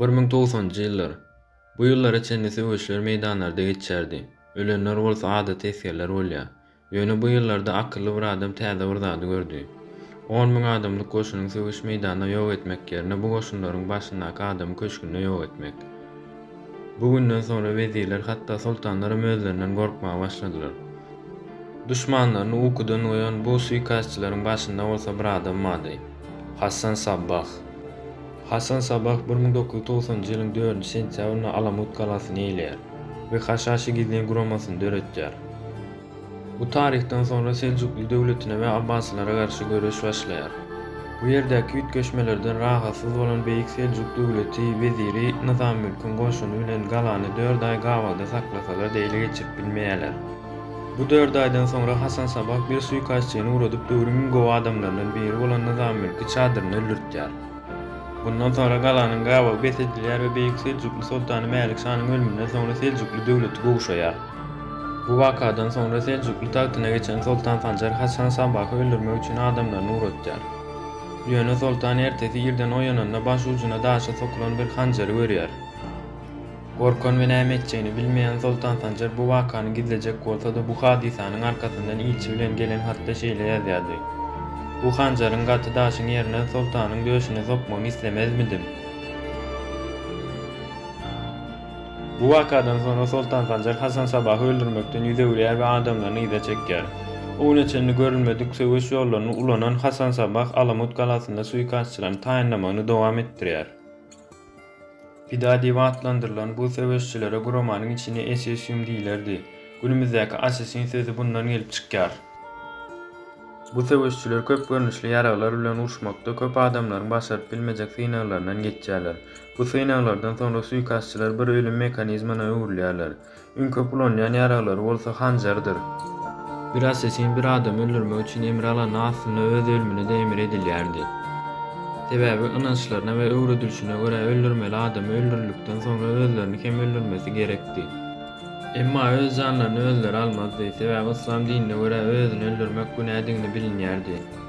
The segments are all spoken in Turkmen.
Bir müň togsanjy ýyllar. Bu ýyllara çenli söweşler meýdanlarda geçýärdi. Ölenler bolsa adaty esgerler bolýar. Ýöne bu ýyllarda akylly bir adam täze bir zady gördi. On müň adamlyk goşunyň söweş meýdanda ýok etmek ýerine bu goşunlaryň başyndaky adamy köşgünde ýok etmek. Bu günden soňra wezirler hatda soltanlaram özlerinden gorkmaga başladylar. Duşmanlaryny ukudan oýan bu suikastçylaryň başynda bolsa bir adam bardy. Hassan Sabbah. Hasan Sabah bir müň dokuz ýüz togsanynjy ýylyň dördünji sentýabrynda Alamut galasyny eýeleýär we Haşhaşy gizlin guramasyny döretýär. Bu taryhdan soňra Seljukly döwletine we Abbasylara garşy göreş başlaýar. Bu ýerdäki üýtgeşmelerden rahatsyz bolan Beýik Seljuk döwleti weziri Nyzamülküň goşuny bilen galany dört aý gabawda saklasalar-da ele geçirip bilmeýärler. Bu dört aýdan soňra Hasan Sabah bir suýkastçyny ugradyp döwrüň iň gowy adamlaryndan biri bolan Nyzamülki çadyrynda öldürtýär. Bundan soňra galanyň gabawy bes edilýär we beýik seljukly soltany Mälik şanyň ölüminden soňra seljukly döwleti gowşaýar. Bu wakadan soňra seljukly tagtyna geçen soltan Sanjar Hasan Sabahy öldürmek üçin adamlaryny ugratýar. Ýöne soltan ertesi irden oýananda baş ujuna daşa sokulan bir hanjary görýär. Gorkan we näme etjegini bilmeýän Soltan Sanjar bu wakany gizlejek bolsa-da bu hadysanyň arkasyndan ilçi bilen gelen hatda şeýle ýazýardy, Bu hanjaryň gaty daşyň ýerine Soltanyň döşüne sokmagyny islemezmidim? Bu wakadan soňra Soltan Sanjar Hasan Sabahy öldürmekden ýüz öwürýär we adamlaryny yza çekýär. O güne çenli görülmedik söweş ýollaryny ulanan Hasan Sabah Alamut galasynda suikastçylaryny taýynlamagyny dowam etdirýär. Pida diýip atlandyrylan bu söweşçilere guramanyň içini Esesium diýilerdi. Günümizdäki Asesin sözi bundan gelip çykýar. Bu söweşçiler köp görnüşli ýaraglar bilen uruşmakda köp adamlaryň başaryp bilmejek synaglaryndan geçýärler. Bu synaglardan soňra suýkasçylar bir ölüm mekanizmana öwrülýärler. Iň köp ulanýan ýaraglary bolsa hanjardyr. Bir assasin bir adamy öldürmek üçin emir alany aslynda öz ölümine-de emir edilýärdi. Sebäbi ynançlaryna we öwredilişine görä öldürmeli adamy öldürildikden soňra özlerini hem öldürmesi gerekdi. Emma öz janlaryny özleri almazdy, sebäbi yslam dinine görä özüni öldürmek günädigini bilinýärdi.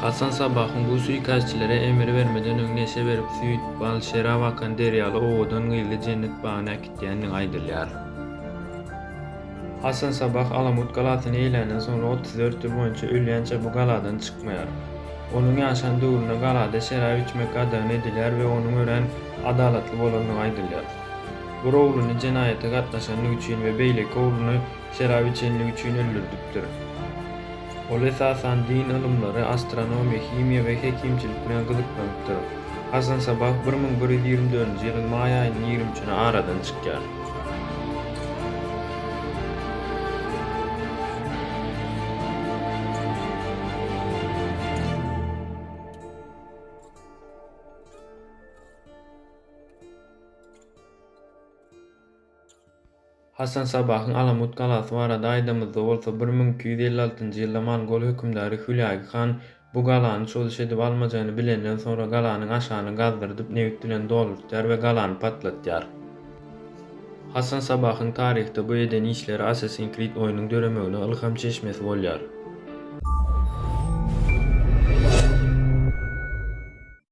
Hasan Sabbahyň bu suikastçilere emir bermeden öň neşe berip süýt, bal, şerap akan derýaly owadan gyzy jennet bagyna äkitýändigi aýdylýar. Hasan Sabbah Alamut galasyny eýländen soňra otuz dört ýyl boýunça ölýänçä bu galadan çykmaýar. Onuň ýaşan döwründe galada şerap içmek gadagan edilýär we onuň örän adalatly bolandygy aýdylýar. Bir ogluny jenaýata gatnaşandygy üçin we beýleki ogluny şerap içenligi üçin öldürdipdir. Ol esasan din ylymlary, astronomiýa, himiýa we hekimçilik bilen gyzyklanypdyr. Hasan Sabah bir müň bir ýüz ýigrimi dördünji ýylyň maý aýynyň ýigrimi üçüne aradan çykýar. Hasan Sabahyň Alamut galasy barada aýdamyzda bolsa bir müň iki ýüz elli altynjy ýylda mongol hökümdary Hülagi han bu galany çozuş edip almajagyny bilenden soňra galanyň aşagyny gazdyrdyp nebit bilen doldurtýar we galany patlatýar. Hasan Sabahyň taryhda bu eden işleri Assassin's Creed oýnuň döremegine ylham çeşmesi bolýar.